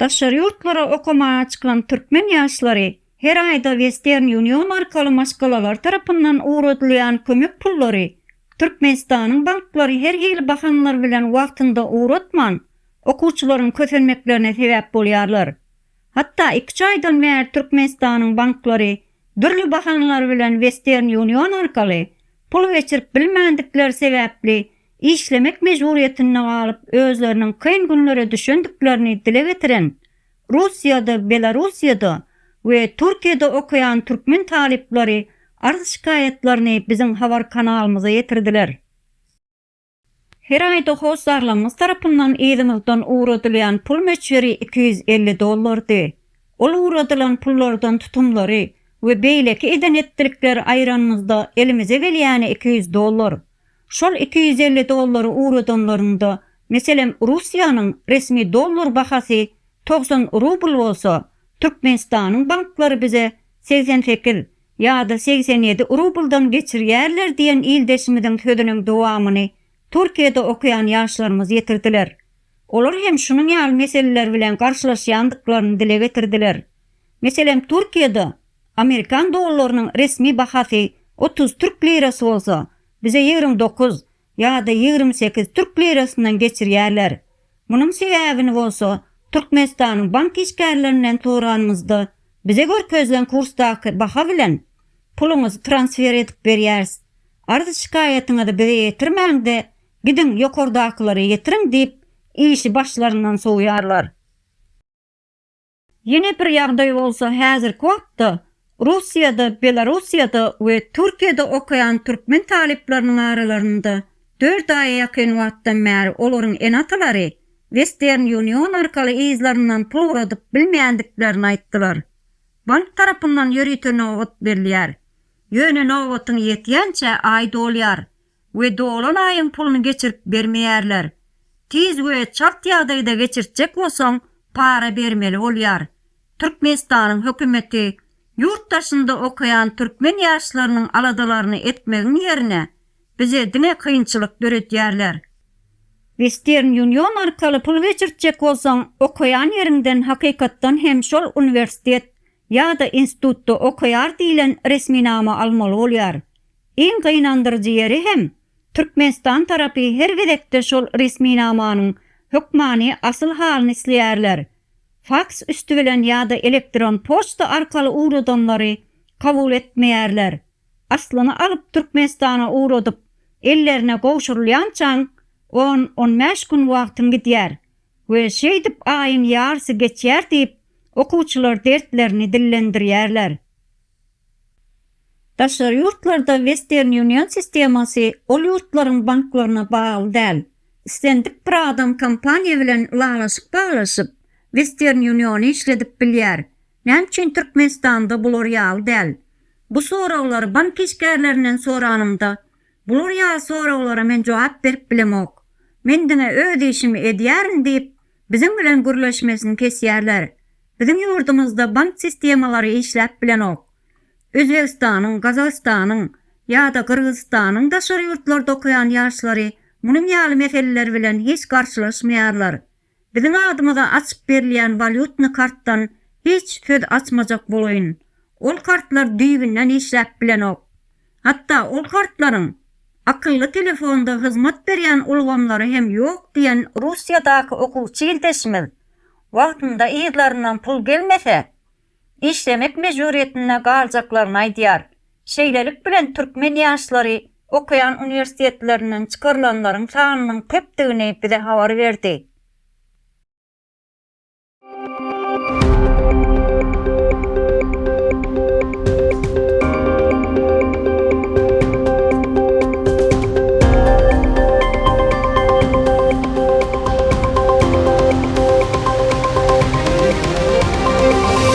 Daşary ýurtlara okamaga çykan türkmen ýaşlary her aýda Western Union arkaly maşgalalar tarapyndan ugradylýan kömek pullary Türkmenistanyň banklary her hili bahanalar bilen wagtynda ugratman, okuwçylaryň kösenmeklerine sebäp bolýarlar. Hatda iki-üç aýdan bäri Türkmenistanyň banklary dürli bahanalar bilen Western Union arkaly pul geçirip bilmändikleri sebäpli işlemek mejburyýetinde galyp özleriniň kyn günlere düşendiklerini dile getiren Russiýada, Belarussiýada we Türkiýede okaýan türkmen talyplary arz-şikaýatlaryny biziň habar kanalymyza ýetirdiler. Her aýda hossarlarymyz tarapyndan yzymyzdan ugradylýan pul möçberi iki ýüz elli dollardy. Ol ugradylan pullardan tutumlary we beýleki eden-etdilikleri aýranymyzda elimize gelýäni iki ýüz dollar. Şol iki ýüz elli dollary ugradanlarynda, meselem, Russiýanyň resmi dollar bahasy togsan rubl bolsa, Türkmenistanyň banklary bize segsen sekiz, ýa-da segsen ýedi rubldan geçirýärler diýen ildeşimiziň sözüniň dowamyny Türkiýede okaýan ýaşlarymyz ýetirdiler. Olar hem şunuň ýaly meseleler bilen garşylaşýandyklaryny dile getirdiler. Meselem, Türkiýede amerikan dollarynyň resmi bahasy otuz türk lirasy bolsa, bize ýigrimi dokuz, ýa-da ýigrimi sekiz türk lirasyndan geçirýärler. Munuň sebäbini bolsa Türkmenistanyň bank işgärlerinden soranymyzda, bize görkezilen kursdaky baha bilen puluňyzy transfer edip berýäris. Arz-şikaýatyňyzy bize ýetirmäň-de, gidiň ýokardakylara ýetiriň diýip, işi başlaryndan sowýarlar. Ýene bir ýagdaý bolsa häzirki wagtda Russiýada, Belarussiýada we Türkiýede okaýan türkmen talyplarynyň aralarynda dört aýa ýakyn wagtdan bäri olaryň ene-atalary Western Union arkaly yzlaryndan pul ugradyp bilmeýändiklerini aýtdylar. Bank tarapyndan ýörite nobat berilýär. Ýöne nobatyň ýetýänçä aý dolýar. we dolan aýyň puluny geçirip bermeýärler. Tiz we çalt ýagdaýda geçirtjek bolsaň para bermeli bolýar. Türkmenistanyň hökümeti ýurt daşynda okaýan türkmen ýaşlarynyň aladalaryny etmegiň ýerine bize diňe kynçylyk döredýärler. Western Union arkaly pul geçirtjek bolsaň okaýan ýeriňden hakykatdan hem şol uniwersitet ýa-da institutda okaýar diýlen resminama almaly bolýar. Iň gynandyryjy ýeri hem, Türkmenistan tarapy her gezekde şol resminamanyň hökmany asyl halyny isleýärler. Faks üsti bilen ýa-da elektron poçta arkaly ugradanlary kabul etmeýärler. Aslyny alyp Türkmenistana ugradyp, ellerine gowşurylýançaň on-on bäş gün wagtyň gidýär. We şeýdip aýyň ýarsy geçýär diýip, okuwçylar dertlerini dillendirýärler. Daşary ýurtlarda Western Union sistemasy ol ýurtlaryň banklaryna bagly däl. Islendik bir adam kompaniýa bilen ylalaşyk baglaşyp, Western Uniony işledip bilýär. Näme üçin Türkmenistanda bular ýaly däl? Bu soraglary bank işgärlerinden soranymda, Bular ýaly soraglara men jogap berip bilemok. Men diňe öz işimi edýärin diýip, biziň bilen gürleşmesini kesýärler. Biziň ýurdumyzda bank sistemalary işläp bilenok. Özbegistanyň, Gazagystanyň ýa-da Gyrgyzystanyň daşary ýurtlarda okaýan ýaşlary munuň ýaly meseleler bilen hiç garşylaşmaýarlar. Biziň adymyza açyp berilýän walýutny kartdan hiç söz açmajak bolaýyn. Ol kartlar düýbünden işläp bilenok. Hatda ol kartlaryň akylly telefonda hyzmat berýän ulgamlary hem ýok diýen Russiýadaky okuwçy ildeşimiz wagtynda yzlaryndan pul gelmese, işlemek mejburyýetinde galjaklaryny aýdýar. Şeýlelik bilen türkmen ýaşlary okaýan uniwersitetlerinden çykarylanlaryň sanynyň köpdügini bize habar berdi.